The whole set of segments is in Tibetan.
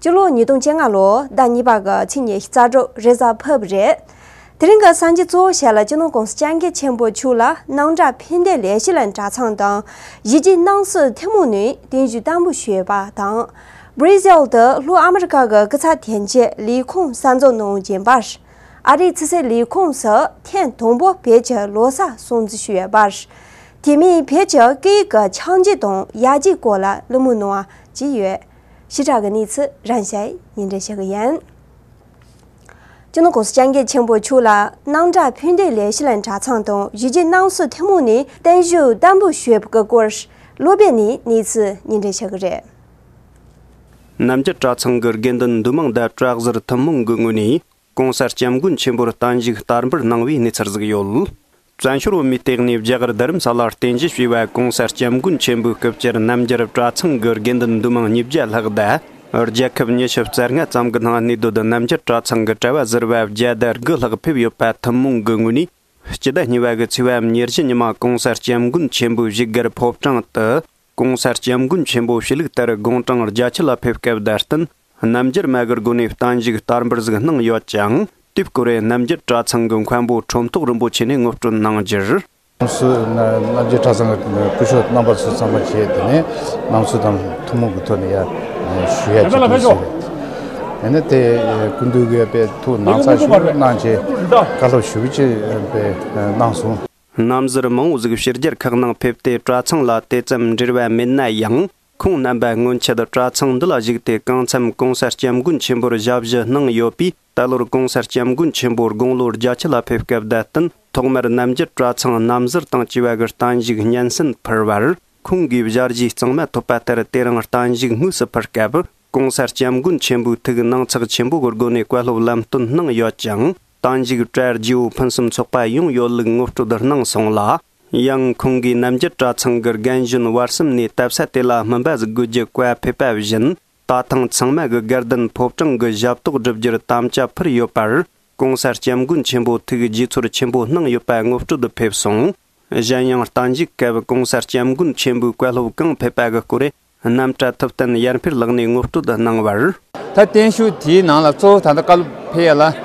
སྤྱི་ལོ་ཉིས་སྟོང་བཅོ་ལྔ་ལོ་ཟླ་གཉིས་པ་གི་ཕྱི་ཉིན་རྩ་སྒྲོ་རེ་གཟའ་ཕབ་རེད། དེ་རིང་གི་སང་ཕྱི་གཙོ་བོ་ཞལ་ལ་སྤྱི་ནོར་ཀོང་སི་སྤྱང་ཀི་ཆེན་པོ་ཕྱུག་ལ་སྣང་གྲགས་ཕན་བདེ་ལས་ཞི་ལ་གྲྭ་ཚང་དང་གཞིས་བྱེས་སྣང་སྲིད་ཐུན་མོང་ནས་གདན་ཞུ་བསྟར་འབུལ་ཞུས་པ་དང། Brazil དུ་ལྷོ་ཨ་མི་རི་ཀ་གི་སྐུ་ཚབ་དན་རྗེ་ལས་ཁུངས་གསར་འཛུགས་གནང་བཞིན་པར། ཨ་རིའི་ཚི་སི་ལས་ཁུངས་སུ་ཐེངས་དང་པོ་བོད་ཀྱི་ལོ་གསར་སྲུང་བརྩི་ཞུས་པར། དེ་མིན་བོད་ཀྱི་སྐད་ཡིག་གི་འཆང་རྒྱུ་དང་ཡལ་རྒྱུའི་སྐོར་ལ་གླེང་མོལ་གནང་བ་བཅས་ཡོད། ཞི་དྲག་གི་གནས་ཚུལ་རང་ཞལ་ཉིན་རེ་བཤད་གི་ཡན། ཅུ་ནོ་ཀོ་སི་ཅང་གེ་ཆེན་པོ་ཕྱུག་ལ་སྣང་གྲགས་ཕུད་འདེད་ལས་ཤི་ལན་གྲ་ཚང་དང་བཞི་རྗེ་སྣང་སོ་ཐེ་མོ་ནས་བརྟན་བཞུགས་བསྟན་པོ་ཞོད་པ་གི་སྐོར་ལོ་པད་ནས་གནས་ཚུལ་ཉིན་རེ་བཤད་གི་རེད། རྣམ་རྒྱལ་གྲ་ཚང་གི་དགེ་འདུན་འདུས་མང་དད་བྲག་གཟར་ཐུན་མོང་གི་ངོས་ནས་གོང་གསལ་སྐྱབས་མགོན་ཆེན་པོར་བསྟན་བཞུགས་བསྟར་འབུལ་གནང་བའི་གནས་ཚུལ་གཟིགས་ཡོད། བཙན་བྱོལ་བོད་མིའི་སྟེགས་ནས་བརྒྱ་གར་རྡ་རམ་ས་ལར་རྟེན་གཞི་བྱས་པའི་གོང་ས་སྐྱབས་མགོན་ཆེན་པོའི་སྐུ་བཅར་རྣམ་རྒྱལ་རབས་གྲྭ་ཚང་གི་དགེ་འདུན་འདུས་མང་ཉིས་བརྒྱ་ལྷག་བསྡད། རྒྱལ་ཁབ་ཉི་ཤུ་རྩ་ལྔ་ཙམ་གྱི་ནང་གནས་སྡོད་དུ་རྣམ་རྒྱལ་གྲྭ་ཚང་གི་གྲྭ་བ་ཟུར་བ་བརྒྱ་དར་དགུ་ལྷག་ཕེབས་ཡོད་པ་ཐུན་མོང་གི་ངོས་ནས། སྤྱི་ཟླ་གཉིས་པ་གི་ཚེས་བའམ་ཉེར་བཞི་ཉི་མ་གོང་ས་སྐྱབས་མགོན་ཆེན་པོའི་གཞིས་སྒར་ཕོ་བྲང་དུ། གོང་གསལ་སྐྱབས་མགོན་ཆེན་པོ་ཞི་ལུགས་དར་དགོང་གྲངས་རྒྱ་ཆེ་ལ་ཕེབས་སྐབས་དར་སྟོན་རྣམ་རྒྱལ་མ་གུར་དགོན་ནས་བརྟན་བཞུགས་བསྟར་འབུལ་གཟིགས་གནང་ཡོད་ཅིང་དུས་སྐོར་རེར་རྣམ་རྒྱལ་གྲྭ་ཚང་གི་མཁན་པོ་ཁྲོམ་ཐོག་རིན་པོ་ཆེ་ནས་དངོས་སྤྲོད་གནང་རྒྱུར། ཁོང་ཚོས་རྣམ་རྒྱལ་གྲྭ་ཚང་གི་སྐུ་ཞབས་རྣམ་པ་ཚོ་ཚང་མ་བཅས་དེ་ནས་ནང་ཆོས་དང་ཐུན་མོང་གི་ཐོག་ནས་ཞུ་ཡ་བྱེད་ཀྱི་ཡོད། ཡིན་ན་དེ་སྐུ་མདུན་གྱི་དཔེ་ཐུགས་སྣང་ཚགས་ཤིག་གནང་ཆེད་བཀའ་སློབ་ཞུ་རྒྱུ་བཅས་གནང་སོང། རྣམ་གཟར་མང་བོ་གཟུགས་བཤེར་རྒྱལ་ཁག་ནང་ཕེབས་ཏེ་གྲྭ་ཚང་ལ་དེ་ཙམ་འབྲེལ་བ་མེད་ན་ཡང། ཁོང་རྣམ་པ་སྔོན་ཆད་གྲྭ་ཚང་འདི་ལ་བཞུགས་ཏེ་གང་འཚམས ྋགོང་ས ྋསྐྱབས་མགོན་ཆེན་པོར་ཞབས་ཕྱི་གནང་ཡོད་པས་ད་ལོར ྋགོང་ས ྋསྐྱབས་མགོན་ཆེན་པོ་དགུང་ལོ་བརྒྱ་ཆ་ལ་ཕེབས་སྐབས་དད་བསྟུན་ཐོག་མར་རྣམ་རྒྱལ་གྲྭ་ཚང་རྣམ་གཟར་དང་བཅས་པ་གི་གཏན་བཞུགས་སྙན་སེང་ཕུལ་བར། ཁོང་གིས་བཞག་རྗེས་གཙང་མ་ཐོབ་པ་ལྟར་དེ་རིང་གཏན་བཞུགས་དངོས་སུ་ཕུལ་སྐབས ྋགོང་ས ྋསྐྱབས་མགོན་ཆེན་པོའི་ཐུགས་སྣང་ཚགས་ཆེན་པོ་གི་སྒོ་ནས་བཀའ་སློབ་ལམ་སྟོན་གནང་ཡོད་ཅིང། ཏང་འཇིགས་བྲལ་རྗེའུ་ཕུན་སུམ་ཚོགས་པ་ཡོངས་གཡོ་ལུགས་ངོ་སྤྲོད་གནང་སོང་ལ། ཡང་ཁོང་གིས་རྣམ་རྒྱལ་གྲྭ་ཚང་གི་རྒན་གཞོན་བར་གསུམ་ནས་དད་ས་དེ་ལ་སྨིན་པ་གཟིགས་དགོས་ཀྱི་བཀའ་ཕེབས་པ་བཞིན་ད་ཐེངས་ཚང་མ་གི་སྒེར་བདུན་ཕོབ་གྲངས་གི་ཞབས་ཏོག་བསྒྲུབ་རྒྱུར་དམ་བཅའ་ཕུལ་ཡོད་པར ྋགོང་ས ྋསྐྱབས་མགོན་ཆེན་པོ་ཐུགས་རྗེ་ཚོར་ཆེན་པོ་གནང་ཡོད་པ་ངོ་སྤྲོད་ཕེབས་སོང། གཞན་ཡང་རྟ་འཇིགས་སྐབས ྋགོང་ས ྋསྐྱབས་མགོན་ཆེན་པོའི་བཀའ་སློབ་གང་ཕེབས་པ་གི་སྐོར་རྣམ་གྲྭ་ཐུབ་བསྟན་ཡར་འཕེལ་ལགས་ནས་ངོ་སྤྲོད་གནང་བར། ད་བརྟན་བཞུགས་དེའི་ནང་ལ་གཙོ་བོ་ད་ལྟ་བཀའ་སློབ་འཕེལ་ཡག་ལགས་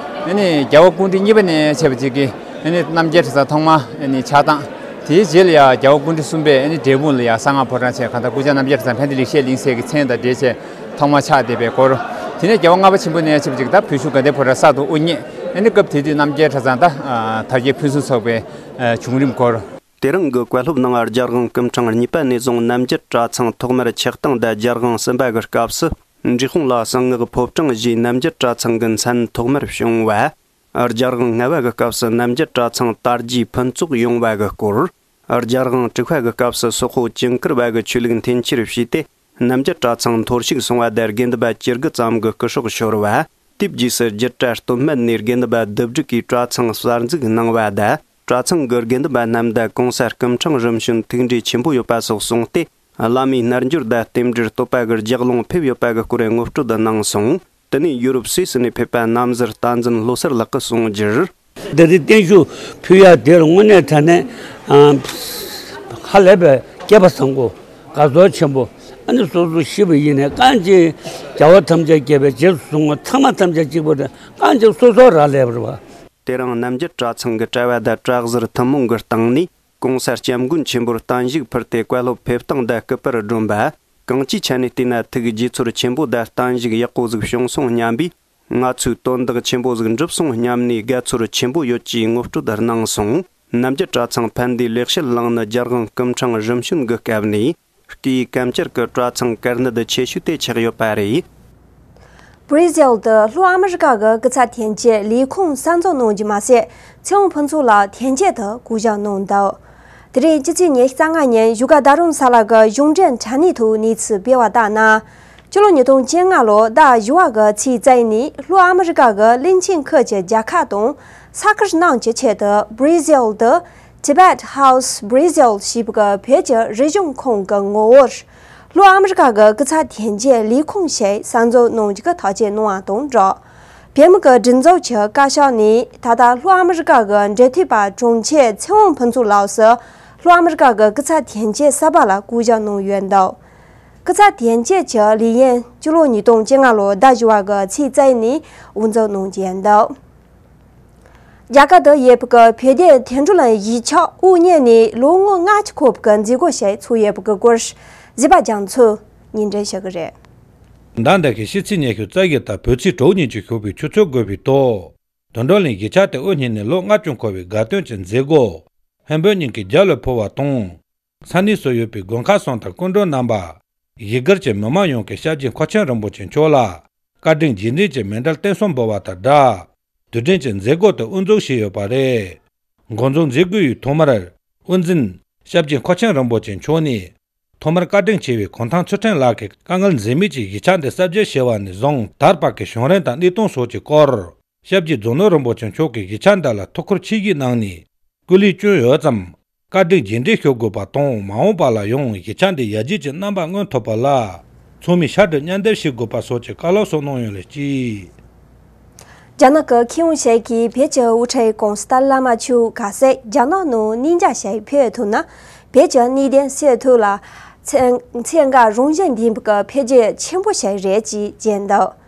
རྒྱལ་བ་ཀུན་འདྲི་གཉིས་པ་ནས་བྱས་པ་གཅིག་གི་རྣམ་རྒྱལ་ཁྲི་ཚང་ཐོག་མ་ཕྱག་དང། དེའི་རྗེས་ལ་ཡང་རྒྱལ་བ་ཀུན་འདྲི་གསུམ་པས་འབྲས་སྤུངས་ལ་ཡང་གསང་སྔགས་ཕོ་བྲང་ཆེན་གང་དག་སྐུ་བྱང་རྣམ་རྒྱལ་ཁྲི་ཚང་ཕན་བདེ་ལེགས་བཤད་གླིང་སྲས་ཀྱི་མཚན་དང་འབྲེལ་བྱས་ཐོག་མ་ཕྱག་འདེབས་པའི་སྐོར། དེ་ནས་རྒྱལ་བ་ལྔ་པ་ཆེན་པོ་ནས་བྱས་པ་གཅིག་ད་བོད་བཞུགས་དགའ་ལྡན་ཕོ་བྲང་གསར་དུ་དབུ་བརྙེས་སྐབས་དེ་དུས་རྣམ་རྒྱལ་ཁྲི་ཚང་དང་དར་རྒྱས་ཕུན་སུམ་ཚོགས་པའི་བྱུང་རིམ་སྐོར། དེ་རིང་གི་བཀའ་སློབ་གནང་བར་རྒྱལ་དབང་སྐུ་འཕྲེང་གཉིས་པ་ནས་བཟུང་རྣམ་རྒྱལ་གྲྭ་ཚང་ཐོག་མར་ཆགས་སྟངས་བརྡ་རྒྱལ་དབང་གསུམ་པ་གི་སྐབས་སུ་འབྲི་ཁུང་ལ་གསང་སྔགས་ཕོབ་གྲངས་བཞིའི་རྣམ་རྒྱལ་གྲྭ་ཚང་གི་མཚན་ཐོག་མར་བྱུང་བ། རྒྱལ་དབང་ལྔ་བ་གི་སྐབས་སུ་རྣམ་རྒྱལ་གྲྭ་ཚང་དར་རྒྱས་ཕུན་ཚོགས་ཡོང་བ་གི་སྐོར། རྒྱལ་དབང་དྲུག་པ་གི་སྐབས་སུ་སོག་ཧོ་དཀྱིལ་འཁོར་བ་གི་ཆོས་ལུགས་འཐེན་འཁྱེར་བྱས་ཏེ་རྣམ་རྒྱལ་གྲྭ་ཚང་མཐོར་ཞུགས་སོང་བ་བརྡ་དགེ་འདུན་པ་སྤྱི་དགུ་ཙམ་གི་སྐུ་སྲོག་ཤོར་བ། དེའི་རྗེས་སུ་སྒྱིད་གྲྭ་སྟོད་སྨད་ནས་དགེ་འདུན་པ་བདུད་བསྒྲིགས་ཀྱིས་གྲྭ་ཚང་གསར་འཛུགས་གནང་བ་བརྡ་གྲྭ་ཚང་གི་དགེ་འདུན་པ་རྣམས་བརྡ་གོང་ས་སྐུ་འཕྲང་རིམ་བྱོན་ཐུགས་འབྲས་ཆེན་པོ་ཡོད་པ་སོགས་གསུངས་ཏེ། བླ་མའི་རྣལ་འབྱོར་བརྡ་རྟེན་འབྲེལ་བསྟོད་པ་གི་ལྗགས་ལུང་ཕེབས་ཡོད་པ་གི་སྐོར་ངོ་སྤྲོད་དུ་གནང་སོང། དེ་ནས་ཡུ་རོབ་སུད་སི་ནས་ཕེབས་པ་རྣམ་གཟིར་རྟ་འཛིན་ལྷོ་སར་ལགས་ཀི་གསུང་རྒྱུར། བདེ་ལྡན་བརྟན་བཞུགས་ཕུལ་ཡ་དེར་དངོས་གནས་དྲ་གནས་ཧ་ལས་པའི་སྐལ་པ་བཟང་པོ། དགའ་ཚོར་ཆེན་པོ། ཨ་ནི་སོ་སོ་ཤི་བ་ཡི་ནས་རྐང་གཅིག། བྱ་བ་ཐམས་ཅད་སྐྱེས་པའི་རྗེས་སུ་བཟུང་བ་ཚང་མ་ཐམས་ཅད་གཅིག་པུ་དང་རྐང་གཅིག་སོ་སོར་རག་ལས་པར་བ། དེ་རིང་རྣམ་རྒྱལ་གྲྭ་ཚང་གི་གྲྭ་བ་དང་གྲྭ་གཟར་ཐུན་མོང་གི་སྟེང་ནས ྋགོང་ས ྋསྐྱབས་མགོན་ཆེན་པོར་བརྟན་བཞུགས་ཕུལ་ཏེ་བཀའ་སློབ་ཕེབས་སྟངས་བརྡ་སྐུལ་པར་བསྒྲོན་པ། གངས་ཅི་ཆ་ནས་བལྟས་ན་ཐུགས་རྗེ་ཚོར་ཆེན་པོ་དང་བརྟན་བཞུགས་ཡག་པོ་གཟིགས་བྱུང་སོང་སྙམ་པས། ང་ཚོས་དོན་དག་ཆེན་པོ་ཟིག་འགྲུབ་སོང་སྙམ་ནས་དགའ་ཚོར་ཆེན་པོ་ཡོད་ཅེས་ངོ་སྤྲོད་གནང་སོང། རྣམ་རྒྱལ་གྲྭ་ཚང་ཕན་བདེའི་ལེགས་བཤད་གླིང་ནི་རྒྱལ་དབང་སྐུ་འཕྲང་རིམ་བྱོན་གྱི་སྐབས་ནས། ཀྱི་སྐམ་སྐྱུར་གྱི་གྲོག་ཚང་དཀར་ནད་ཆེ་ཤོས་དེ་ཆགས་ཡོད་པ་རེད། Brazil། དུ་ལྷོ་ཨ་མི་རི་ཀ་གི་སྐུ་ཚབ་ཐན་སྐྱེད་ལས་ཁུངས་གསར་འཛུགས་གནང་རྒྱུ་མ་ཟད་ཚེ་འོང་ཕུན་ཚོགས་ལགས་ཐན་སྐྱེད་དུ་སྐུ་བཞག་གནང་འདུག་དེ་རིང་ཕྱི་ཚེས་ཉེར་གསང་ལྔ་ཉིན་བཞུགས་སྒར་རྡ་རམ་ས་ལ་གི་གཞུང་འབྲེལ་དྲ་གནས་ཐོག་གནས་ཚུལ་སྤེལ་བ་ལྟར་ན། སྤྱི་ལོ་ཉིས་སྟོང་བཅོ་ལྔ་ལོར་ཟླ་བཞི་བ་གི་ཚེས་རྩ་ཨི་ནས་ལྷོ་ཨ་མི་རི་ཀ་གི་གླིང་ཆེན་ཁུལ་གྱི་རྒྱལ་ཁག་དང་ས་ཁུལ་རྣམས་ཀྱི་ཆེད་དུ Brazil། དུ Tibet House Brazil ཞེས་པའི་བོད་ཀྱི་རིག་གཞུང་ཁང་གི་ངོ་བོར། ལྷོ་ཨ་མེ་རི་ཁ་གི་སྐུ་ཚ་དྷན་རྒྱལ་ལས་ཁུངས་ཞེས་གསར་འཛུགས་གནང་རྒྱུ་ཐག་བཅད་གནང་བ་དང་སྦྲགས། བོད་མི་ཀྱི་སྒྲིག་འཛུགས་ཀྱི་བཀའ་ཤག་ནས་ད་ལྟ་ལྷོ་ཨ་མེ་རི་ཁ་གི་འབྲེལ་མཐུད་པ་དྲུང་ཆེ་ཚེ་དབང་ཕུན་ཚོགས་ལགས་སུ་ལྷོ་ཨ་མེ་རི་ཁ་གི་སྐུ་ཚ་དྷན་རྒྱལ་གསར་པ་ལ་བསྐོ་གཞག་གནང་ཡོད་འདུག་སྐུ་ཚ་དྷན་རྒྱལ་གྱི་ལས་ཡུན་བཅུ་ལོ་ཉིས་སྟོང་བཅོ་ལྔ་ལོའི་ཟླ་བཞི་བ་གི་ཚེས་བརྩེགས་ནས་དབུ་འཛུགས་གནང་རྒྱུ་ཡིན་འདུག། རྒྱ་གར་དུ་ཡོད་པའི་བོད་བདེ་དོན་གྲོས་ལ་གཞིས་ཆགས་དབུ་བརྙེས་ནས་ལོ་ངོ་ལྔ་ཅུ་འཁོར་བའི་མཛད་སྒོ་ཞིག་ཚུགས་ཡོད་པའི་སྐོར་གཞིས་པ་རྒྱ་མཚོས་ཉིན་རེ་བཤད་ཀྱི་རེད། མདའ་འདེད་ཀྱི་ཤིས་ཚིག་སྙན་ཞུ་རྩ་ཡིག་དང་བོད་ཚིག་གྲོགས་གཉིས་ཀྱི་ཞུ་བའི་ཆུ་ཚོད་བགོས་པའི་ཐོག་དོན་གྲོས་ལའི་གཞིས་ཆགས་དེ་དབུ་བརྙེས་ནས་ལོ་ལྔ་ཅུ་འཁོར་བའི་དགའ་སྟོན་གྱི་མཛད་སྒོ་བན་བོན་གཉིས་ཀྱི་རྒྱ་ལོས་ཕུལ་བ་དང། ས་གནས་སུ་ཡོད་པའི་དགོན་ཁག་སོང་དང་སྐུ་མགྲོན་རྣམ་པ། གཞིས་སྒར་གྱི་མི་དམངས་ཡོངས་ཀྱིས་ཤར་རྒྱུད་མཁོ་ཆེན་རིན་པོ་ཆེ་མཆོག་ལ། བཀའ་དྲིན་རྗེས་འབྲེལ་གྱི་མེ་འདྲ་བརྟན་གསུམ་འབུལ་བ་དང་སྦྲགས། དུས་དྲན་གྱི་མཛད་སྒོ་དེ་དབུ་འཛུགས་བྱས་ཡོད་པ་རེད། འགོ་འཛུགས་མཛད་སྒོའི་ཡུལ་ཐོག་མར། དབུ་འཛིན། ཤར་རྒྱུད་མཁོ་ཆེན་རིན་པོ་ཆེ་མཆོག་ནས། ཐོག་མར་བཀའ་དྲིན་ཆེ་བའི་གུང་ཐང་ཚུལ་ཁྲིམས་ལགས་ཀྱིས་དཀའ་ངལ་འཛེམ་མེད་ཀྱིས་གཞིས་ཆགས་འདི་གསར་བརྗེ་བྱས་པ་ནས་བཟུང་དར་འཕགས་ཀྱི་བྱུང་རིམ་དང་གནད་དོན་སོགས་ཀྱི་སྐོར། ཞབས་ཀྱི་རྫོང་ནོར་རིན་པོ་ཆེ་མཆོག་གིས་གཞིས་ཆགས་འདི་ལ་ཐུགས་ཁུར་ཆེ་བཞེས་གནང་ནས་སྐུ་ལས་བསྐྱོན་ཡོད་ཙམ། བཀའ་དྲིན་རྗེས་འབྲེལ་ཞུ་དགོས་པ་དང་མ་འོངས་པ་ལ་ཡང་གཞིས་ཆགས་འདིའི་ཡར་རྒྱས་ཀྱི་རྣམ་པ་མངོན་ཐུབ་པ་ལ་ཚང་མས་ཤ་དྲིལ་གཉན་བརྡལ་བྱེད་དགོས་པ་སོགས་ཀྱི་བཀའ་སློབ་སོགས་གནང་ཡོད་ལ་གཅིག། རྒྱ་ནག་གི་ཁེ་དབང་ཅན་གྱི་བོད་ཀྱི་དབུ་ཁྲིད་ཀོང་སྟར་བླ་མ་ཆོས་ག་སེ་རྒྱ་ནག་ནང་གནས་མཇལ་བྱས་ཕེབས་ཐུབ་ན་བོད་ཀྱི་གནས་བརྟན་སེལ་ཐུབ་ལ། ཚེ་འགའ་རང་གཞན་ལྡན་པའི་འཕེལ་རྒྱས་ཆེན་པོ་ཞིག་རེད་ཅེས་བརྗོད་འདུག།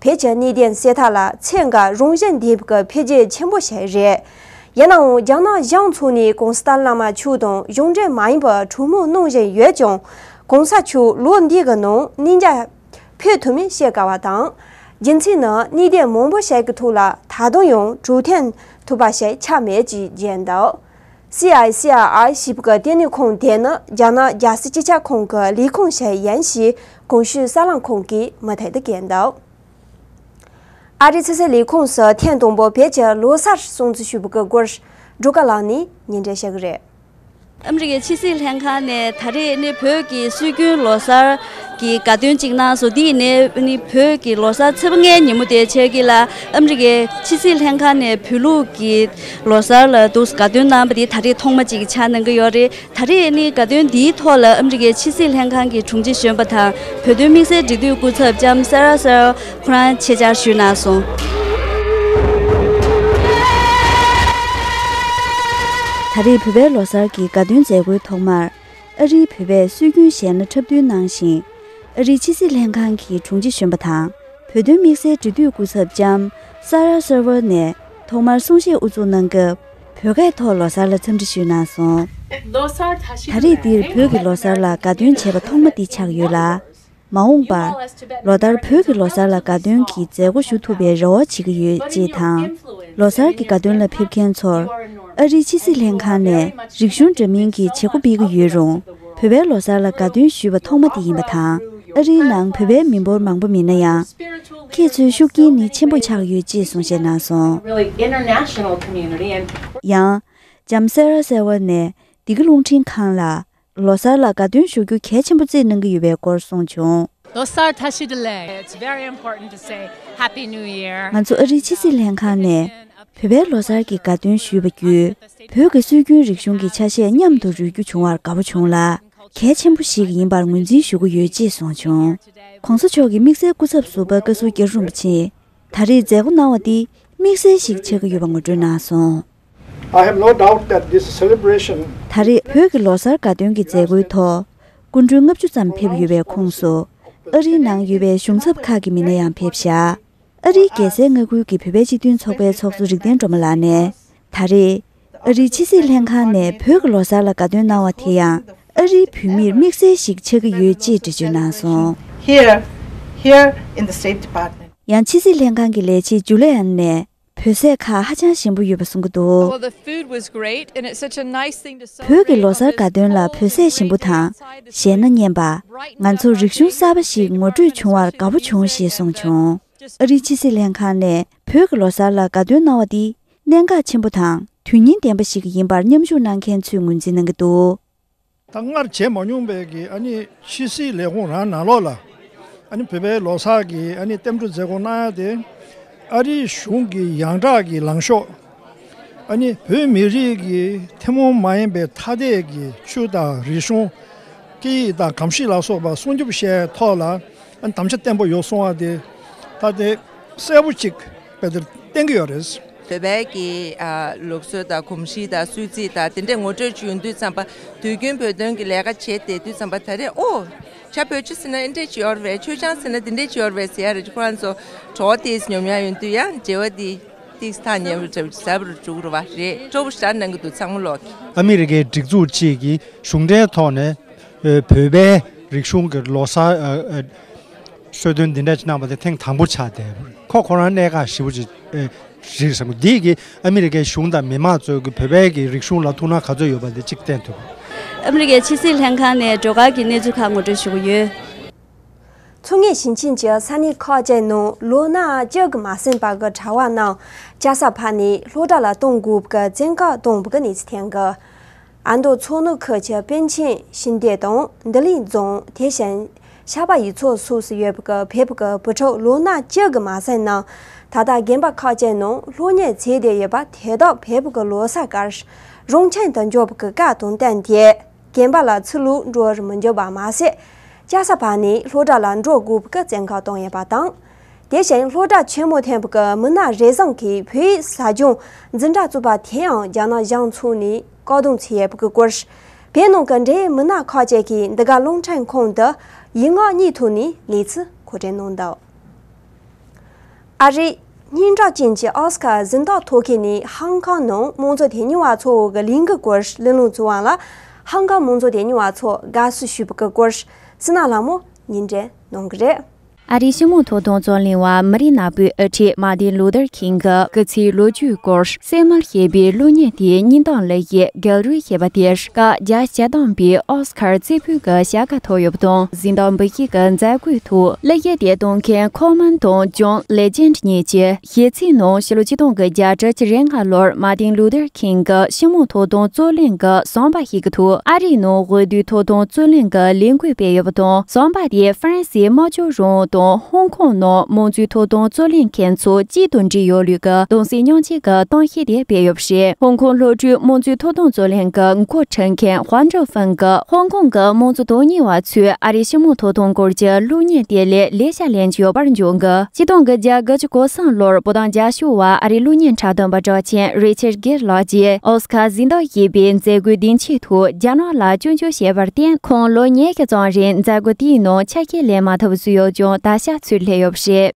བེད་སྤྱད་གནས་གཏན་སེལ་ཐད་ལ་ཚད་འགའ་རུང་ཞལ་འདེབས་སྐབས་འཕེལ་རྒྱས་ཆེན་པོ་བྱས་རེད། ཡིན་ནའང་རྒྱ་ནག་གཞུང་ཚུགས་ནས་གོང་ས་བླ་མ་ཆོས་དང་གཞུང་འབྲེལ་མ་ཡིན་པར་གྲོས་མོལ་གནང་བཞིན་ཡོད་ཀྱང། གོང་ས་མཆོག་ལོ་འདི་གི་ནང་གནས་འཇའ་ཕེབས་ཐུབ་མིན་བཤད་དཀའ་བ་དང། རྒྱུ་མཚན་ནི་གནས་གཏན་མང་པོ་བྱས་ཀྱི་ཐུགས་ལ་ད་དུང་ཡང་གྲོས་འཐེན་ཐུབ་པ་ཞིག་ཆགས་མེད་ཅེས་བརྗོད་འདུག། སི་ཨའི་སི་ཨ་ཨའི་ཞིབ་དགའ་ལྟེ་གནས་ཁང་དེ་ནི་རྒྱ་ནག་རྒྱལ་སྲིད་སྤྱི་ཁྱབ་ཁང་གི་ལས་ཁུངས་ཤིག་ཡིན་ཞེས་གོང་ཞུས་གསར་ལམ་ཁང་གིས་མུ་མཐུད་དུ་བཀོད་འདུག་ཨ་རིའི་ཕྱི་སྲིད་ལས་ཁུངས་སུ་ཐེངས་དང་པོར་བོད་ཀྱི་ལོ་གསར་སྲུང་གཙི་ཞུ་འབུལ་སྐོར་སྒྲོག་ག་ལགས་ནས་ཉིན་རེ་བཤད་ཀྱི་རེད། ཨ་མི་རི་ཀའི་ཕྱི་སྲིད་ལྷན་ཁང་ནས་ད་རེས་ནི་བོད་ཀྱི་སྲོལ་རྒྱུན་ལོ་གསར་གྱི་དགའ་སྟོན་གཅིག་གནང་སོང་འདི་ནི་ནི་བོད་ཀྱི་ལོ་གསར་ཚེས་པ་ལྔའི་ཉིན་མོ་དེ་ཆགས་ཀྱི་ལ་ཨ་མི་རི་ཀའི་ཕྱི་སྲིད་ལྷན་ཁང་ནས་བོད་ལུགས་ཀྱི་ལོ་གསར་ལ་དུས་དགའ་སྟོན་གནང་བ་དེ་ད་རེས་ཐོག་མ་ཅིག་ཆགས་གནང་གི་ཡོད་རེད། ད་རེས་ནི་དགའ་སྟོན་འདིའི་ཐོག་ལ་ཨ་མི་རི་ཀའི་ཕྱི་སྲིད་ལྷན་ཁང་གི་དྲུང་ཆེ་གཞོན་པ་དང་བོད་དོན་དམིགས་བསལ་འབྲེལ་མཐུད་སྐུ་ཚབ་ལྕམ་སཱ་རཱ་སཱ་རཱ་ཁོ་རང་ཆེད་བཅར་ཞུས་གནང་སོང། ད་རེས་བོད་པའི་ལོ་གསར་གྱི་དགའ་སྟོན་མཛད་སྒོའི་ཐོག་མར། ཨ་རིའི་བོད་པས་སྲོལ་རྒྱུན་གཞས་སྣ་འཁྲབ་སྟོན་གནང་ཞིང། ཨ་རིའི་ཕྱི་སྲིད་ལྷན་ཁང་གི་དྲུང་ཆེ་གཞོན་པ་དང་བོད་དོན་དམིགས་བསལ་འབྲེལ་མཐུད་སྐུ་ཚབ་ལྕམ་སཱ་རཱ་སཱ་རཱ་ནས། ཐོག་མར་གསུང་བཤད་དབུ་འཛུགས་གནང་སྐབས་བོད་སྐད་ཐོག་ལོ་སར་ལ་འཚམས་འདྲི་ཞུས་གནང་སོང། ད་རེས་འདིར་བོད་ཀྱི་ལོ་སར་ལ་དགའ་སྟོན་བྱེད་པ་ཐོག་མ་འདི་ཆགས་ཡོད་ལ། མ་འོངས་པར་ལོ་ལྟར་བོད་ཀྱི་ལོ་སར་ལ་དགའ་སྟོན་གྱི་མཛད་སྒོ་ཞུ་ཐུབ་པའི་རེ་བ་བྱེད་ཀྱི་ཡོད་ཅེས་དང། ལོ་སར་གྱི་དགའ་སྟོན་ལ་ཕེབས་མཁན་ཚོར་ཨ་རིའི་ཕྱི་སྲིད་ལྷན་ཁང་ནས་རིག་གཞུང་འདྲ་མིན་གྱི་བྱེད་སྒོ་སྤེལ་གྱི་ཡོད་རུང་བོད་པའི་ལོ་སར་ལ་དགའ་སྟོན་ཞུས་པ་ཐོག་མ་དེ་ཡིན་པ་དང་ཨ་རིའི་ནང་བོད་པའི་མི་འབོར་མང་པོ་མེད་ན་ཡང། ཁྱེད་ཚོའི་ཤུགས་རྐྱེན་ནི་ཆེན་པོ་ཆགས་ཡོད་ཅེས་གསུང་བཤད་གནང་སོང། ཡང། འཇམ་སེ་ར་གསལ་བ་ནས་སྡེ་དགེ་རླུང་འཕྲིན་ཁང་ལ་ལོ་གསར་ལ་དགའ་སྟོན་ཞུ་རྒྱུ་གལ་ཆེན་པོ་རྩིས་གནང་གི་ཡོད་པའི་སྐོར་གསུངས་བྱུང། ལོ་གསར་དག་ཞི་བདེ་ལས། ང་ཚོ་ཨ་རིའི་ཕྱི་སྲིད་ལྷན་ཁང་ནས་བོད་པའི་ལོ་གསར་གྱི་དགའ་སྟོན་ཞུས་པ་བརྒྱུད་བོད་ཀྱི་སྲོལ་རྒྱུན་རིག་གཞུང་གི་ཆ་ཤས་མཉམ་དུ་རོལ་རྒྱུ་བྱུང་བར་དགའ་བོ་བྱུང་ལ། གལ་ཆེན་པོ་ཞིག་ཡིན་པར་ངོས་འཛིན་ཞུ་གི་ཡོད་ཅེས་གསུངས་བྱུང། ྋགོང་ས་མཆོག་གིས་དམིགས་བསལ་སྐུ་ཚབ་ཟུར་པ་བཀའ་ཟུར་རྒྱ་རིན་པོ་ཆེས་ད་རེས་མཛད་སྒོ་གནང་བ་འདི་དམིགས་བསལ་ཞིག་ཆགས་ཀྱི་ཡོད་པ་ངོ་སྤྲོད་གནང་སོང། ད་རེས་བོད་ཀྱི་ལོ་གསར་དགའ་སྟོན་གྱི་མཛད་སྒོའི་ཐོག་སྐུ་མགྲོན་ལྔ་བཅུ་ཙམ་ཕེབས་ཡོད་པའི་ཁོངས་སུ་ཨ་རིའི་ནང་ཡོད་པའི་གཞུང་ཚབ་ཁག་གི་མི་སྣ་ཡང་ཕེབས་ཤག་ཨ་རིའི་རྒྱལ་སའི་མངའ་ཁུལ་གྱི་བོད་པའི་སྤྱི་མཐུན་ཚོགས་པའི་ཚོགས་གཙོ་རིག་ལྡན་སྒྲོལ་མ་ལགས་ནས་ད་རེས་ཨ་རིའི་ཕྱི་སྲིད་ལྷན་ཁང་ནས་བོད་ཀྱི་ལོ་གསར་ལ་དགའ་སྟོན་གནང་བ་དེ་ཡང་ཨ་རིའི་བོད་མིར་དམིགས་བསལ་ཞིག་ཆགས་ཀྱི་ཡོད་ཅེས་འགྲེལ་བརྗོད་གནང་སོང། ཡང་ཕྱི་སྲིད་ལྷན་ཁང་གི་ལས་བྱེད་ཇུ་ལེ་ཨན་ནས་བོད་ཟས་ཁ་ཧ་ཅང་ཞིམ་པོ་ཡོད་པ་གསུང་གི་འདུག་བོད་ཀྱི་ལོ་གསར་དགའ་སྟོན་ལ་བོད་ཟས་ཞིམ་པོ་དང། གཞན་ན་སྙན་པ། ང་ཚོར་རིག་གཞུང་གསར་པ་ཞིག་ངོ་སྤྲོད་བྱུང་བར་དགའ་པོ་བྱུང་ཞེས་གསུངས་བྱུང། ཨ་རིའི་ཕྱི་སྲིད་ལྷན་ཁང་ནས་བོད་ཀྱི་ལོ་གསར་ལ་དགའ་སྟོན་གནང་བ་འདི་གནད་འགག་ཆེན་པོ་དང་དོན་སྙིང་ལྡན་པ་ཞིག་ཡིན་པར་མཉམ་ཞུགས་གནང་མཁན་ཚོས་ངོས་འཛིན་གནང་གི་འདུག། ད་སྔར་བྱས་མ་མྱོང་པའི་གི་ཨ་ནི་ཕྱི་སྲིད་ལས་ཁུངས་རང་ནང་ལོགས་ལ་ཨ་ནི་བོད་པའི་ལོ་གསར་གི་ཨ་ནི་གཏེམ་སྒྲུག་མཛད་སྒོ་གནང་ཡ་དེ་ཨ་རིའི་གཞུང་གི་ཡང་དག་གི་ལངས་ཤོག་ཨ་ནི་བོད་མི་རིགས་ཀྱི་ཐུན་མོང་མ་ཡིན་པའི་ཐ་དད་ཀྱི་ཆོས་དང་རིག་གཞུང། སྐད་ཡིག་དང་གོམས་གཤིས་ལ་སོགས་པ་སྲུང་སྐྱོབ་བྱས་ཐོག་ལ་དམ་བཅའ་བརྟན་པོ་ཡོད་སོང་བ་དེ་ད་ལྟའི་གསལ་བོ་གཅིག་དཔེ་དེར་བསྟན་གྱི་ཡོད་རེད། བོད་པའི་ཀྱི་ལུགས་སྲོལ་དང་གོམས་གཤིས་དང་སྲོལ་རྩིས་དང་དེ་འདྲས་ངོ་སྤྲོད་བྱུང་དུས་ཙམ་པ་དུས་རྒྱུན་བོད་དོན་གྱི་ལས་ཀ་བྱས་བསྡད་དུས་ཙམ་པ་ད་རེས་ཨོ། བྱ་བོད་ཆུ་ཟེར་ན་ཨེ་འདྲས་བྱེད་ཨོར་བས་ཆོས་ཆང་ཟེར་ན་དེ་འདྲས་བྱེད་ཨོར་བས་ཟེར་ཡ་རེད་ཁོ་རང་ཚོ་གྲོགས་དེས་ཉོབ་མྱངས་ཡོང་དུས་ཡང་འབྲེལ་བ་འདི། དེའི་ས་ཉེ་བའི་གྲལ་གྱི་ཟབ་རུ་བཅུག་རུ་བ་རེ་ཀྲོ་བོ་ཤར་ནང་གི་དུད་ཚང་མུ་ལོག་གི། ཨ་མི་རི་ཀའི་སྒྲིག་འཛུགས་གཅིག་གི་གཞུང་འབྲེལ་ཐོག་ནས་བོད་པའི་རིག་གཞུང་གི་ལོ་སར་གསོལ་སྟོན་འདི་འདྲ་གནང་བ་དེ་ཐེངས་དང་པོ་ཆགས་ཏེ་ཁོ་ཁོ་རང་གནད་འགག་ཧྲིལ་པོ་ཅིག་རེད་བསམ་གི་འདི་གིས་ཨ་མི་རི་ཀའི་གཞུང་དང་མི་མང་ཚོས་བོད་པའི་གི་རིག་གཞུང་ལ་ཐུགས་སྣང་ག་ཚོད་ཡོད་པ་དེ་གཅིག་བསྟན་ཐུབ། ཨ་མི་རི་ཀའི་ཕྱི་སྲིད་ལྷན་ཁང་ནས་འགྲོ་ཁར་གྱི་གནས་ཚུལ་ཁག་ངོ་སྤྲོད་ཞུ་གི་ཡོད། མཚོ་ངོས་ཞིང་ཆེན་གྱི་ས་གནས་ཁག་བཅས་ནང་ལོ་ན་བཅུ་གི་མ་ཟིན་པ་གི་གྲྭ་བ་རྣམས་སྐྱ་སར་ཕབ་ནས་སློབ་གྲྭ་ལ་གཏོང་དགོས་པའི་བཙན་བཀག་གཏོང་བའི་གནས་ཚུལ་ཐོན་ཡོད། ཨ་མདོ་མཚོ་ནུབ་ཁུལ་གྱི་པཎ་ཆེན་ཞིང་སྡེ་དང་འདི་ལིང་རྫོང་དེ་བཞིན་ཤར་པ་ཡུལ་ཚོ་སོགས་སུ་ཡོད་པའི་བེབས་ཀྱི་བུ་ཕྲུག་ལོ་ན་བཅུ་གི་མ་ཟིན་རྣམས་ད་ལྟ་རྒན་པ་ཁག་བཅས་ནང་སློབ་གཉེར་བྱས་བསྡད་ཡོད་པ་དེ་དག་བེབས་ཀྱི་ལོ་སར་སྐར་རོང་ཆེན་དུ་འབྱོར་བའི་སྐབས་དང་བསྟུན་ཏེ། རྒན་པ་ལ་ཚུར་ལུག་འབྲོ་བར་མི་འགྱུར་བ་མ་ཟད། ལྕགས་ཟ་བ་ནི་ལྷོ་བྲག་ལ་འབྲོག་དགུ་བཀའ་བཙན་ཁ་གཏོང་ཡོད་པ་དང། དེ་བཞིན་ལྷོ་བྲག་ཆེན་མོ་ཐེམ་ཀྱི་མི་སྣ་རེ་ཟུང་གིས་བོད་ཡིག་ཟ་སྦྱོང་འཛིན་གྲྭ་བཙུགས་པ་དེའང་རྒྱ་ནག་གཞུང་ཚུགས་ནས་བཀག་སྡོམ་བྱས་ཡོད་པའི་སྐོར། བོད་ནང་གི་འབྲེལ་ཡོད་མི་སྣ་ཁག་ཅིག་གིས་འདི་ག་རླུང་འཕྲིན་ཁང་དུ་ཡིག་ངག་གཉིས་ཐོག་ནས་ལས་ཚུལ་གོ་སྒྲིག་གནང་འདུག། ཨ་རི། སྙན་གྲགས་ཅན་གྱི་ཨོ་སི་ཀར་གཟེངས་རྟགས་ཐོབ་མཁན་ནི་ཧང་ཀང་ནང་དམངས་གཙོ་དོན་གཉེར་བ་ཚོ་འོག་གི་གླིང་གི་སྐོར་གླེང་སློང་བྱུང་བ་ལ་ཧང་ཀང་དམངས་གཙོ་དོན་གཉེར་བ་ཚོ་དགའ་བསུ་ཞུས་པ་གི་སྐོར་སི་ན་ལྷ་མོ་ཉིན་རེ་གནང་གི་རེད། ཨ་རིའི་སྲིང་མོ་ཐོག་དམངས་གཙོ་གླེང་བ་མི་རིགས་ནག་པོའི་ཨ་ཁྲིད་མ་ཏིན་ལུ་ཐར་ཁིང་གི་སྐུ་ཚེའི་ལོ་རྒྱུས་སྐོར་གསལ་མར་བཤད་པའི་གློག་བརྙན་དེའི་སྙིང་གཏམ་ལེགས་ཡིག་རྒྱག་རུལ་ཞེས་པ་དེར། བཀའ་རྒྱ་སྤྱི་བཏང་པའི་ཨོ་སི་ཁར་རྩེ་ཕུད་ཀྱི་བྱ་དགའ་ཐོ་ཡོ་བ་དང་གཟི་མདངས་འབུལ་མཁན་གྱི་མཛད་སྒོའི་ཐོག་གླུ་གཞས་དེ་གཏོང་མཁན་ཁོ་མོན་དང་ཇོན་ལེ་ཇན་ཏྲི་གཉིས་ཀྱི་ཞེ་ཚིག་ནང་ཕྱི་ལོ་ཆིག་སྟོང་གི་བརྒྱ་ཕྲག་བཅུ་རེ་ལྔ་ལོར་མ་ཏིན་ལུ་ཏེར་ཁིང་གི་ཤི་མོ་ཐོག་དོན་རྩོད་གླེང་གི་ཟམ་པ་ཞིག་གི་ཐོག་ཨ་རིའི་ནང་འོས་བསྡུའི་ཐོག་དོན་རྩོད་གླེང་གི་ལས་འགུལ་སྤེལ་ཡོད་པ་དང་ཟམ་པ་དེ་ཧྥ་རན་སིའི་དམར་ཕྱོགས་རང་དང་ཧོང་ཀོང་ནང་དམངས་གཙོའི་ཐོག་དོན་རྩོད་གླེང་མཁན་ཚོ་གཅིག་ཏུ་འདྲེས་ཡོད་ལུགས་ཀྱི་གདུང་སེམས་མྱོང་བྱེད་ཀྱི་གཏམ་བཤད་དེ་སྤེལ་ཡོད། ཞེས་ཧོང་ཀོང་བློ་གྲོས་དམངས་གཙོའི་ཐོབ་ཐང་རྩོད་ལེན་གྱི་མགོ་འཁྲིད་མཁན་ཧོང་ཀྲང་ཧྥེང་གིས་ཧོང་ཀོང་གི་དམངས་གཙོ་དོན་གཉེར་བ་ཚོས་ཨ་རིའི་སྤྱི་དམངས་ཐོབ་ཐང་སྐོར་གྱི་གློག་བརྙན་དེ་ལས་ལས་ཤ་ལེན་གྱི་ཡོད་པར་འཇོག་གི་སྤྱི་སྟངས་ཀྱི་རྒྱ་གར་གྱི་གོ་སངས་ལོར་པོ་དང་རྒྱ་ཤོག་བར་ཨ་རིའི་གློག་བརྙན་འཁྲབ་སྟོན་པ་གྲགས་ཆེན་རེ་ཆེར་གེར་ལགས་ཀྱིས་ཨོ་སི་ཁཱར་གཟེངས་རྟགས་ཞེས་པའི་མཛད་སྒོའི་སྡིངས་ཆའི་ཐོག་རྒྱ་ནག་ལ་སྐྱོན་བརྗོད་བྱས་པར་བརྟེན་ཁོང་ལོ་ཉེས་བརྒྱ་ཙམ་རིང་མཛད་སྒོ་དེའི་ནང་ཆ་ཤས་ལེན་མ་ཐུབ་བཟོས་ཡོད་ཀྱང་ད་ཆ་ཚུར་སླེབས་ཡོད་པ་རེད།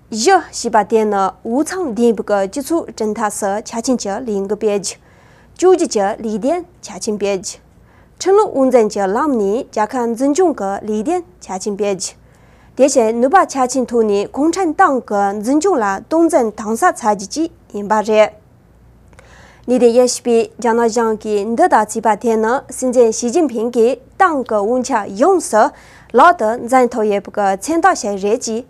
བཞི། བྱིས་པ་དེ་ནི་འུ་ཚང་ལྡན་པའི་སྤྱི་ཚོགས་བཀྲིན་མཐའ་སུ་ཆ་ཆེན་གྱི་ལས་འགུལ་སྤེལ་རྒྱུ། བཅུ་གཅིག་ཅི་ལས་ལྡན་ཆ་ཆེན་སྤེལ་རྒྱུ། ཁྲིམས་ལུགས་དབུ་འཛིན་གྱི་ལམ་ནས་རྒྱལ་ཁ་འཛིན་སྐྱོང་གི་ལས་ལྡན་ཆ་ཆེན་སྤེལ་རྒྱུ། དེ་བཞིན་ནུས་པ་ཆ་ཆེན་ཐོན་ནས་གུང་ཁྲན་ཏང་གི་འཛིན་སྐྱོང་ལ་སྟོང་འཛིན་དྭངས་གསལ་ཚར་རྒྱུ་བཅས་ཡིན་པ་རེད། ལི་ཏེ་ཡེ་བྱིས་པས་རྒྱ་ནག་གཞུང་གིས་འདི་ལྟར་བྱས་པ་དེ་ནི་སྲིད་འཛིན་ཞི་ཅིན་ཕིང་གིས་ཏང་གི་དབུ་འཁྱག་ཡོངས་སུ་ལག་ཏུ་འཛིན་ཐུབ་ཡོད་པའི་མཚན་རྟགས་ཤིག་རེད་ཅེས་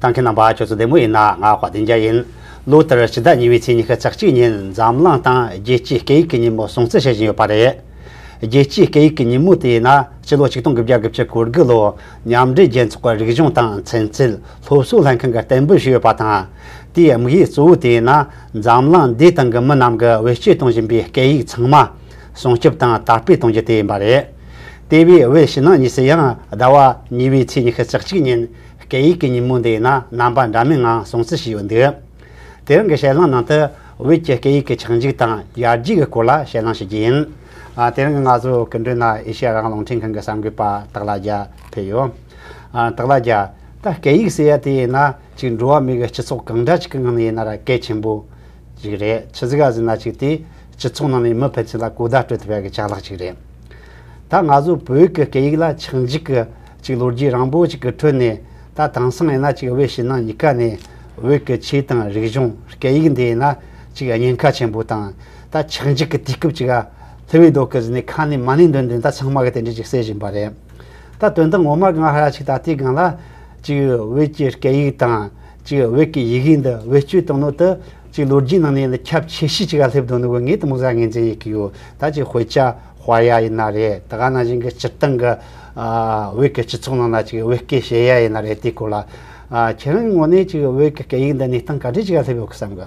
ཐང་གི་རྣམ་པ་ཁྱོད་ཚོ་བདེ་མོ་ཡིན་ན་ང་བཀའ་དྲིན་རྒྱ་ཡིན། ལོ་ལྟར་ཕྱི་ཟླ་གཉིས་པའི་ཚེས་ཉི་ཤུ་རྩ་གཅིག་ཉིན་འཛམ་གླང་སྟེང་རྒྱལ་སྤྱིའི་སྐད་ཡིག་གི་ཉིན་མོ་སྲུང་བརྩི་བྱེད་བཞིན་ཡོད་པ་རེད། རྒྱལ་སྤྱིའི་སྐད་ཡིག་གི་ཉིན་མོ་དེ་ཡིན་ན་ཕྱི་ལོ་ཆིག་སྟོང་དགུ་བརྒྱ་དགུ་བཅུ་གོ་དགུ་ལོར་མཉམ་འབྲེལ་རྒྱལ་ཚོགས་ཀྱི་རིག་གཞུང་དང་ཚན་རྩལ་སློབ་གསོའི་ལྷན་ཁང་གིས་གཏན་འབེབས་ཞུས་ཡོད་པ་དང། དེའི་དམིགས་ཡུལ་གཙོ་བོ་དེ་ཡིན་ན་འཛམ་གླིང་འདིའི་སྟེང་གི་མི་རྣམས་ཀྱིས་བེད་སྤྱོད་གཏོང་བཞིན་པའི་སྐད་ཡིག་ཚང་མ། སྲུང་སྐྱོབ་དང་དར་སྤེལ་གཏོང་རྒྱུ་དེ་ཡིན་པ་རེད། དེ་བས་དབུས་ཕྱི་ནང་གཉིས་སུ་ཡང་ཟླ་བ་གཉིས་པའི་ཚེས་ཉི་ཤུ་རྩ་གཅིག་ཉིན་སྐད་ཡིག་གི་ཉིན་མོ་འདི་ཡིན་ན་རྣམ་པ་འདྲ་མིན་ངང་སྲུང་བརྩི་བྱས་ཡོད་འདུག་དེ་རིང་གི་བཤད་ལམ་ནང་དུ་བོད་ཀྱི་སྐད་ཡིག་གི་ཆགས་འཇིག་དང་ཡར་རྒྱས་ཀྱི་སྐོར་ལ་བཤད་ལམ་བྱེད་རྒྱུ་ཡིན། དེ་རིང་གི་ང་ཚོའི་སྐུ་མགྲོན་ན་ཨེ་ཤེ་ཡ་རང་རླུང་འཕྲིན་ཁང་གི་གསར་འགོད་པ་སྟག་ལྷ་རྒྱལ་ཕེབས་ཡོད། སྟག་ལྷ་རྒྱལ། ད་སྐད་ཡིག་ཟེར་ཡ་དེ་ཡིན་ན་གཅིག་འགྲོ་བ་མི་གི་སྤྱི་ཚོགས་གང་འདྲ་ཞིག་གི་ངང་ནས་ཡིན་ན་ར་སྐད་ཆེན་པོ། ཅིག་རེད། ཆུ་ཟིག་ག་ཟིག་ན་ཅིག་དེས་སྤྱི་ཚོགས་ནང་ནས་མི་ཕལ་ཆེར་ལ་གོ་བརྡ་སྤྲོད་ཐུབ་ཡ་གི་ཆ་ལག་ཅིག་རེད། ད་ང་ཚོ་བོད་ཀྱི་སྐད་ཡིག་ལ་ཆག་འཇིག་གི་ཅིག་ལོ་རྒྱུས་རང་པོ་ཅིག་གི་ཁྲོད་ནས་ད་དེང་སང་ཡིན་ན་ཅིག་བོད་ཕྱི་ནང་གཉིས་ཀ་ནས་བོད་ཀྱི་ཆོས་དང་རིག་གཞུང་སྐད་ཡིག་འདི་ཡིན་ན་ཅིག་ཉེན་ཁ་ཆེན་པོ་དང་ད་ཆག་འཇིག་གི་དུས་སྐབས་ཅིག་ཨ་ལྷི་བའི་མདོག་གི་ཟིན་ནས་ཁ་ནས་མ་ནིང་འདོན་འདོན་ད་ཚང་མ་གི་དེ་འདྲས་ཅིག་བསད་བཞིན་པ་རེད། ད་དོན་དག་ངོ་མ་གང་ཧ་ཅིག་ད་ལྟའི་སྒང་ལ་ཅིག་བོད་ཀྱི་སྐད་ཡིག་དང། གཅིག་བོད་ཀྱི་ཡི་གེའི་འདི་བེད་སྤྱོད་གཏོང་ནོ་དུ། གཅིག་ལོ་རྒྱུས་ནང་ནས་ཁྱབ་ཆེ་ཤོས་གཅིག་ག་སླེབས་དོན་དགོས་ངེས་དུ་མུ་ཟ་ངེས་འཛིན་ཡི་གེ་ཡོད་ད་ཅིག་བྷེ་ཅཱ་བྷ་ཡ་ཡི་ན་རེད་ད་ག་ན་བཞིན་གྱི་སྤྱིར་བཏང་གི། བོད་ཀྱི་སྤྱི་ཚོགས་ནང་ན་ཅིག་བོད་སྐད་བཤད་ཡ་ཡི་ན་རེད་དེའི་སྐོར་ལ། ཁྱེད་རང་གི་ངོ་ནས་ཅིག་བོད་ཀྱི་སྐད་ཡིག་འདི་གནས་སྟངས་ག་འདྲས་ཅིག་ག་སླེབས་ཡོད་གི་བསམ་གི།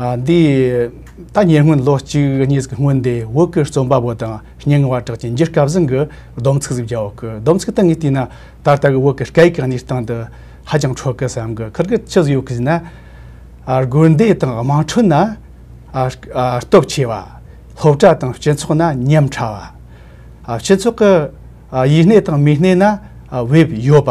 འདི་ད་ཉེ་སྔོན་ལོ་གཅིག་གཉིས་ཀྱི་སྔོན་དེ་བོད་ཀྱི་རྩོམ་པ་པོ་དང་སྙན་ངག་པ་གྲགས་ཅན་རྒྱུ་སྐལ་བཟང་གི་སྡོམ་ཚིག་ཟིག་རྒྱག་འོག་གི་སྡོམ་ཚིག་སྟེང་ངས་བལྟས་ན་ད་ལྟ་གི་བོད་ཀྱི་སྐད་ཡིག་གི་གནས་སྟངས་འདི་ཧ་ཅང་འཕྲོད་གི་བསམ་གི་ཁར་གི་ཅི་ཟིག་ཡོད་གི་ཟེར་ན། དགོན་སྡེ་དང་དམངས་ཁྲོད་ན་སྟོབས་ཆེ་བ། སློབ་གྲྭ་དང་སྤྱི་ཚོགས་ན་ཉམས་ཕྲ་བ། སྤྱི་ཚོགས་ཀྱི་ཡིད་གནས་དང་མིག་གནས་ན་དབྱིབས་ཡོད་པ།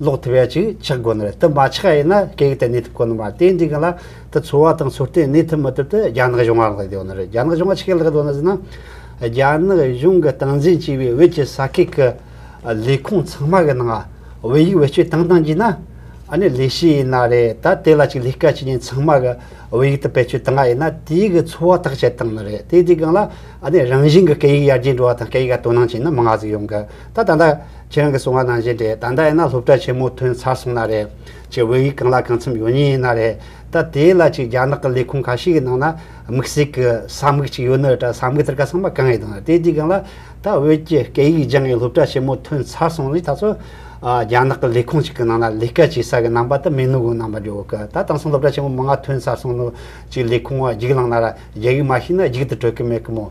ལོག་ཐུབ་ཡ་ཅིག་ཆགས་དགོས་ནི་རེད་དེ་མ་ཆགས་ཡས་ན་སྐད་ཡིག་དེ་གནས་ཐུབ་དཀོན་ནི་མ་རེད་དེ་འདྲའི་གང་ལ་དེ་འཚོ་བ་དང་འཚོ་རྟེན་གནས་ཐུབ་མི་ཐུབ་དེ་རྒྱ་ནག་གཞུང་ལ་ལྷག་ཡོད་ནི་རེད་རྒྱ་ནག་གཞུང་ལ་ཆི་ཁས་ལྷག་ཡོད་ནི་ཟེར་ན་རྒྱ་ནག་གཞུང་གི་སྟངས་འཛིན་བྱས་པའི་བོད་ཀྱི་ས་ཁུལ་གྱི་ལས་ཁུངས་ཚང་མ་གི་ནང་བོད་ཡིག་བེད་སྤྱོད་བཏང་བཏང་གྱིས་ན་ཨཱ་ནི་ལས་བྱེད་ཡས་ན་རེད་ད་དེ་ལ་ཅིག་ལས་ཀ་བྱེད་མཁན་ཚང་མ་གི་བོད་ཡིག་དེ་བེད་སྤྱོད་བཏང་ཡས་ན་དེའི་གི་འཚོ་བ་ཐག་བཅད་བཏང་ནི་རེད་དེ་འདྲའི་གང་ལ་ཨཱ་ནི་རང་བཞིན་གི་སྐད་ཡིག་ཡར་རྒྱས་འགྲོ་བ་དང་སྐད་ཡིག་ག་དོ་སྣང་བྱས་ན་མང་ང་ཟིག་ཡོང་གི། ད་ད་ད། ཁྱེད་རང་གི་གསུང་བ་ནང་བཞིན་དེ་ད་ད་ཡིན་ན་སློབ་གྲྭ་ཆེན་མོ་ཐོན་ཚར་སོང་ན་རེད། ཁྱེད་བོད་ཡིག་གང་ལ་གང་འཚམ་ཡོད་ཉེན་ཡིན་ན་རེད། ད་དེའི་ལ་ཅིག་རྒྱ་ནག་གི་ལས་ཁུངས་ག་ཤེད་ཀྱི་ནང་ན་དམིགས་བསལ་གྱི་ས་དམིགས་ཅིག་ཡོད་ནི་ད་ས་དམིགས་དེར་ག་ཚང་མ་གང་ཡིན་དང་དེ་དེའི་སྒང་ལ་ད་བོད་ཀྱི་སྐད་ཡིག་སྦྱང་ཡས་སློབ་གྲྭ་ཆེན་མོ་ཐོན་ཚར་སོང་ནི་ད་ཚོ་རྒྱ་ནག་གི་ལས་ཁུངས་ཅིག་གི་ནང་ན་ལས་ཀ་བྱེད་ས་གི་ནང་པ་ད་མེད་ནུ་གུ་ནང་པ་འགྲོ་གི་ད་དང་སང་སློབ་གྲྭ་ཆེན་མོ་མང་ང་ཐོན་ཚར་སོང་ནུ་ཅིག་ལས་ཁུངས་བ་འགྱིག་ལང་ན་ར་རྒྱ་ཡིག་མ་ཤེས་ན་འགྱིག་དུ་གྲོལ་གི་མེད་གི་མོ།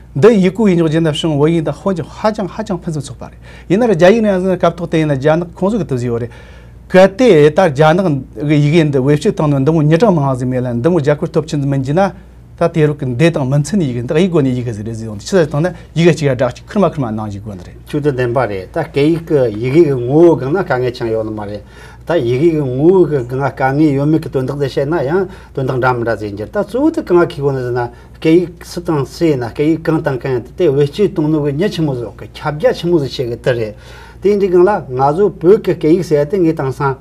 འདི་ཡིག་གུ་ཡིས་འཇོག་རྗེས་ན་ཕྱིང་བོད་ཡིག་དང་ཧོན་གྱི་ཧ་ཅང་ཧ་ཅང་ཕུན་སུམ་ཚོགས་པ་རེད། ཡིན་ནར་རྒྱ་ཡིག་ནང་ཡང་ཟེར་ན་སྐབས་ཐོག་དེ་ཡིན་ན་རྒྱ་ནག་ཁོང་ཚོས་གི་དུ་བཟོས་ཡོད་རེད། གལ་ཏེ་ད་རྒྱ་ནག་གི་ཡི་གེ་འདི་བེད་སྤྱོད་བཏང་ནས་འདི་མོ་ཉིས་གྲངས་མང་ཟིག་མེད་ལ་འདི་མོ་རྒྱ་གར་སྟོབས་ཆེན་ཟིག་མིན་གྱི་ན། ད་དེ་རུ་གི་འདི་དང་མི་མཚུན་ཡི་གེ་འདི་ཡིག་དགོས་ནས་ཡི་གེ་ཟིག་རེད་ཟིག་ཡོང་དུས་ཕྱི་ས་ཐོན་ན་ཡི་གེ་གཅིག་ཡ་སྦྲགས་གཅིག་ཁུར་མ་ཁུར་མ་གནང་གྱི་དགོས་ནི་རེད། ཤུགས་དུ་ལྡན་པ་རེད་ད་སྐད་ཡིག་གི་ཡི་གེ་གི་ངོ་བོའི་སྒང་ན་དཀའ་ངལ་ཆང་ཡོད་ནི་མ་རེད། ད་ཡི་གེ་གི་ངོ་བོའི་གི་སྒང་ན་དཀའ་ངལ་ཡོད་མེད་གི་དོན་དག་དེ་བཤད་ན་ཡང་དོན་དག་འདྲ་མི་འདྲ་ཟིག་ཡིན་གྱི་ད་གཙོ་བོ་དེ་གང་གི་གོ་ནས་ཟེར་ན། སྐད་ཡིག་སུ་དང་སུ་ཡིན་ན་སྐད་ཡིག་གང་དང་གང་ཡིན་དེ་དེ་བེད་སྤྱོད་གཏོང་ནུས་ཀྱི་མྱི་ཆེན་མོ་ཟོག་གི་ཁྱབ་རྒྱ་ཆེན་མོ་ཟིག་བྱེད་གི་དེ་རེད། དེ་འདྲི་གང་ལ་ང་ཚོའི་བོད་ཀྱི་སྐད་ཡིག་ཟེར་དེ་ངས་དང་སང།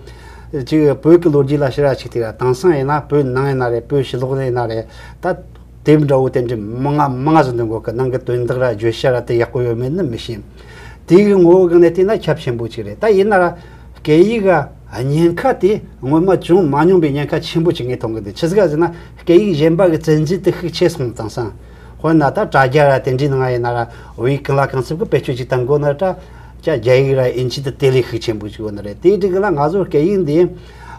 ཅིག་བོད་ཀྱི་ལོ་རྒྱུས་ལ་ཤེས་ར་ཆིག་ཐིག་ར་དང་སང་ཡིན་ན་བོད་ནང་ཡིན་ན་རེད་བོད་ཕྱི་ལོག་ནས་ཡིན་ན་རེད་ད། དེ་འདྲ་བོ་དེ་འདྲི་མ་ང་མ་ང་ཟོ་འདི་འགོ་གི་ནང་གི་དོན་དག་ར་བརྗོད་བྱ་ར་དེ་ཡག་པོ་ཡོད་མེད་ནི་མི་ཤེས། དེ་གི་ངོ་བོ་གང་ནས་བལྟས་ན་ཁྱབ་ཆེན་པོ་ཅིག་རེད་ད་ཡིན་ན་ར། སྐད་ཡིག་ག་ཉེན་ཁ་དེ་སྔོན་མ་བྱུང་མ་མྱོང་པའི་ཉེན་ཁ་ཆེན་པོ་ཅིག་ངས་མཐོང་གི་འདུག་ཇི་ག་ཟེར་ན། སྐད་ཡིག་གཞན་པ་གི་ཚད་འཛིན་དུ་ཤུགས་ཆེ་སོང་དང་སང་ཧོན་ན་ད་དྲ་རྒྱ་ར་དེ་འདྲའི་ནང་ཡིན་ན་ར་བའི་གང་ལ་གང་འཚུབ་གི་བེད་སྤྱོད་ཅིག་དམ་དགོས་ན་དྲ་རྒྱ་རྒྱ་ཡིག་ར་ཨིན་ཇི་དུ་དེ་ལས་ཤུགས་ཆེན་པོ་ཅིག་ཡོད་ན་རེད་དེའི་དྲིང་ལ་ང་ཚོ་སྐད་ཡིག་འདི་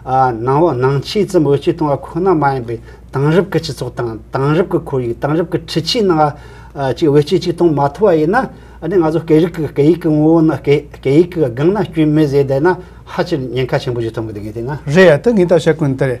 ནང་བ་ནང་ཆེས་ཙམ་བེད་སྤྱོད་གཏོང་བ་ཁོ་ན་མ་ཡིན་པའི་དེང་རབས་ཀི་སྤྱི་ཚོགས་དང་དེང་རབས་ཀི་ཁོར་ཡུག་དེང་རབས་ཀི་འཁྲི་ཆིའི་ནང་ཅིག་བེད་སྤྱོད་ཅིག་གཏོང་མ་ཐུབ་བ་ཡིན་ན་འདི་ང་ཚོ་སྐད་རིག་གི་སྐད་ཡིག་གི་ངོ་བོ་ནི་སྐད་ཡིག་གི་སྒང་ན་སྐྱོན་མེད་ཟེར་བསྡད་ན་ཧ་ཅིར་ཉེན་ཁ་ཆེན་པོ་ཞིག་ཐོན་གི་འདུག་གི་དེ་ན། རེད་ད་ངས་ད་བཤད་ཀི་འདུག་ད་རེད།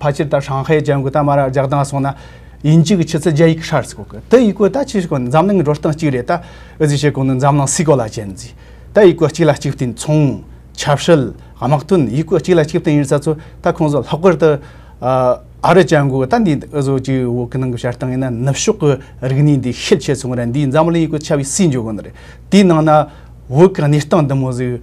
ཕ་ཕྱིར་ད་ཧྲང་ཧའེ་རྒྱལ་མགོ་ད་མ་ར་རྒྱག་དང་སོང་ན་ཡིན་གཅིག་ཕྱི་ཚུལ་རྒྱ་ཡིག་ཧྲར་སི་གོ་གི་ཏི་ཡིག་གོ་ད་ཅི་ཞིག་གོ་འཛམ་གླིང་འགྲོ་སྟངས་གཅིག་རེད་ད་ཨི་ཟི་ཞིག་གོ་ནི་འཛམ་གླིང་སི་གོ་ལ་ཅན་ཛི་ད་ཡིག་གོ་གཅིག་ལ་གཅིག་བརྟེན་ཚོང་ཆབ་སྲིད་དམག་དོན་ཡིག་གོ་གཅིག་ལ་གཅིག་བརྟེན་ཡིན་ས་ཚོ་ད་ཁོང་ཚོ་ལྷག་པར་ཏུ་ཨ་རི་རྒྱལ་མགོ་ད་འདི་ཨི་བཟོ་གི་འོ་གི་ནང་གི་བྱེད་སྟངས་ཡིན་ན་ནུབ་ཕྱོགས་གི་རིག་གནས་འདི་ཤེད་ཆེ་སོང་ར་འདིའི་འཛམ་གླིང་ཡིག་གོ་ཆ་བའི་སྲིད་འཇུག་གོ་ནི་རེད་དེའི་ནང་ན་བོད་གི་གནས་སྟངས་འདི་མོ་ཟིག།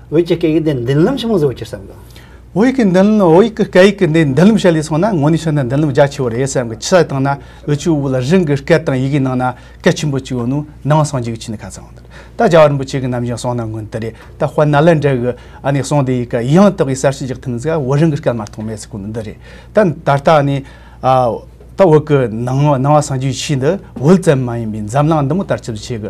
འོད་ཀྱི་སྐད་ཡིག་འདི་མདུན་ལམ་ཆེན་མོ་བཟོ་བར་ཕྱིར་བསམ་གོ། འོད་ཡིག་གི་འདུན་འོད་ཡིག་གི་སྐད་ཡིག་གི་འདི་མདུན་ལམ་བཤད་ལས་སོང་ན་ངོ་ནས་ཤོད་ན་མདུན་ལམ་རྒྱ་ཆེ་བོ་རེད་བསམ་གི་ཕྱི་ས་བཏང་ན་འོད་ཆུ་བོ་ལ་རིང་གི་སྐད་དང་ཡི་གེའི་ནང་ན་སྐད་ཆེན་པོ་གཅིག་ཡོད་ནོ་ནང་སངས་རྒྱས་ཀྱི་ཆོས་ནི་ཁ་ཚང་ད་རྒྱ་བ་རིན་པོ་ཆེ་གི་ནམ་བཞིན་གསུང་གནང་གོན་དེ་རེད་ད་དཔལ་ན་ལེན་དྲ་གི་ཨ་ནས་གསུང་དེ་ཡི་ག་ཡང་དག་པའི་གསར་བཤད་རྒྱག་ཐུབ་མིན་ཟེར་བ་འོད་རིང་གི་སྐད་མ་གཏོགས་མེད་ཟེར་གོ་ནི་འདི་རེད་ད་ད་ལྟ་ནི་ད་འོད་གི་ནང་བ་སངས་རྒྱས་ཀྱི་ཆོས་འདི་འོད་ཙམ་མ་ཡིན་པའི་འཛམ་གླིང་འདི་མོ་ལྟར་ཆུ་བོ་ཆེ་གི་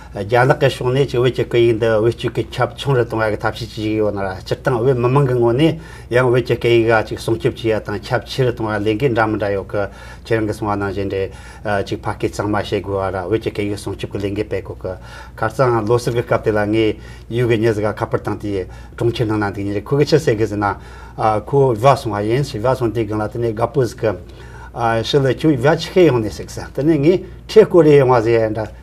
རྒྱ་ནག་གི་ཕྱོགས་ནས་ཀྱི་བོད་ཀྱི་སྐད་ཡིག་འདི་བེད་སྤྱོད་གི་ཁྱབ་ཆུང་རུ་གཏོང་བ་གི་ཐབས་ཤེས་ཀྱི་ཡིག་ཡོད་ན་སྤྱིར་བཏང་བོད་མི་དམངས་ཀྱི་ངོས་ནས་ཡང་བོད་ཀྱི་སྐད་ཡིག་ག་ཅིག་སྲུང་སྐྱོབ་བྱེད་ཡ་དང་ཁྱབ་ཆེ་རུ་གཏོང་བ་ལས་འགན་འདྲ་མི་འདྲ་ཡོད་གི་ཁྱེད་རང་གི་གསུང་བ་ནང་བཞིན་རེད་ཅིག་ཕ་སྐད་གཙང་མ་བཤད་དགོས་བ་ར་བོད་ཀྱི་སྐད་ཡིག་སྲུང་སྐྱོབ་གི་ལས་འགན་སྤེལ་དགོས་གི་ཁ་རྩང་ལོ་གསར་གི་སྐབས་དེ་ལ་ངས་ཡུལ་གི་མྱི་གཟུགས་ཁ་པར་བཏང་དེ་གྲོང་ཁྱེར་ནང་ན་འདུག་ཉིན་རེ་ཁོ་གི་ཕྱི་ཟེར་གི་ཟེར་ན་ཁོ་བོ་བྷ་སོང་བ་ཡིན་ཞེས་བྷ་སོང་དེ་གང་ལ་དེ་ནས་དགའ་པོ་ཟིག་གི་ཕྱི་ལ་ཁྱོད་བྷ་ཆི་ཁའི་ཡོང་ནས་ཟིག་ཟེར་དེ་ནས་ངས་ཁྲེས་ཀོ་རེ་ཡོང་བ་ཟེར་ཡ་འདྲ།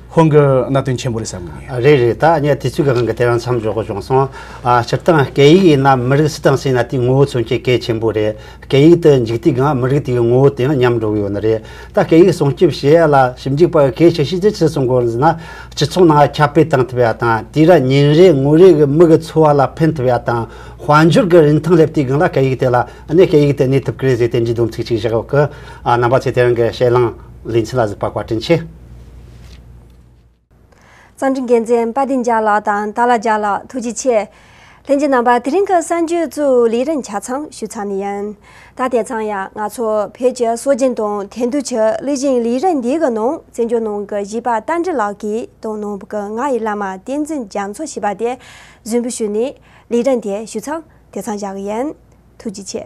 ཁོང་གི་གནད་དོན་ཆེན་པོ་རེད་བསམ་གྱི་ཡིན། རེད་རེད་ད་ངས་དུས་ཚོད་གང་གི་དེ་རང་མཚམས་འཇོག་གི་བྱུང་སོང། སྤྱིར་བཏང་སྐད་ཡིག་ཡིན་ན་མི་རིགས་སུ་དང་སུ་ཡིན་ན་དེའི་ངོ་བོ་མཚོན་བྱེད་གལ་ཆེན་པོ་རེད། སྐད་ཡིག་དུ་འཇུག་དུས་གང་མི་རིགས་དེའི་ངོ་བོ་དེའང་ཉམས་འགྲོ་གི་ཡོད་ནི་རེད། ད་སྐད་ཡིག་སྲུང་སྐྱོབ་བྱེད་ཡ་ལ་ཞིབ་འཇུག་པ་གལ་ཆེ་ཤོས་དེ་ཅི་གསུང་དགོས་ཟེར་ན། སྤྱི་ཚོགས་ནང་ཁྱབ་སྤེལ་བཏང་ཐུབ་ཡ་དང་དེས་ར་ཉིན་རེ་ངོ་རེ་གི་མི་གི་འཚོ་བ་ལ་ཕན་ཐུབ་ཡ་དང་དཔལ་འབྱོར་གི་རིན་ཐང་སླེབས་དུས་གང་ལ་སྐད་ཡིག་དེ་ལ་གནས་སྐད་ཡིག་དེ་གནས་ཐུབ་ཀི་རེད་ཟེར་བསྟན་གྱི་སྡོམ་ཚིག་ཅིག་བཞག་གི་རྣམ་པ་ཚོས་དེ་རང་གི་ཞེད་ལངས་ལེ་ཚན་ལ་གཟིགས་པ་བཀའ་དྲིན་ཆེ། རྩ་འཛིན་འགན་འཛིན་དཔའ་སྡིངས་ལྕགས་ལགས་དང་ཏཱ་ལ་ལྕགས་ལགས་ཐུགས་རྗེ་ཆེ། ལྷན་ཅིག་རྣམ་པ་དེ་རིང་གི་གསར་འགྱུར་གཙོས་ལས་རིམ་ཆ་ཚང་ཞུ་ཚར་ནི་ཡིན། ད་དེ་ཚང་ཡང་ང་ཚོ་བོད་ཀྱི་སྲོལ་རྒྱུན་དང་དེང་དུས་ཀྱི་གླུ་གཞིའི་ལས་རིམ་འདིའི་ནང་བཙན་བྱོལ་ནང་གི་གཞིས་པ་རྟ་མགྲིན་ལགས་ཀྱིས་དང་ནང་པུ་གི་ང་ཡི་བླ་མ་བསྟན་འཛིན་རྒྱ་མཚོ་ཞེས་པ་དེས་རྫུན་འབུལ་ཞུས་ནས་ལས་རིམ་དེ་ཞུ་ཚང་དེ་ཚང་བཞག་གི་ཡིན། ཐུགས་རྗེ་ཆེ།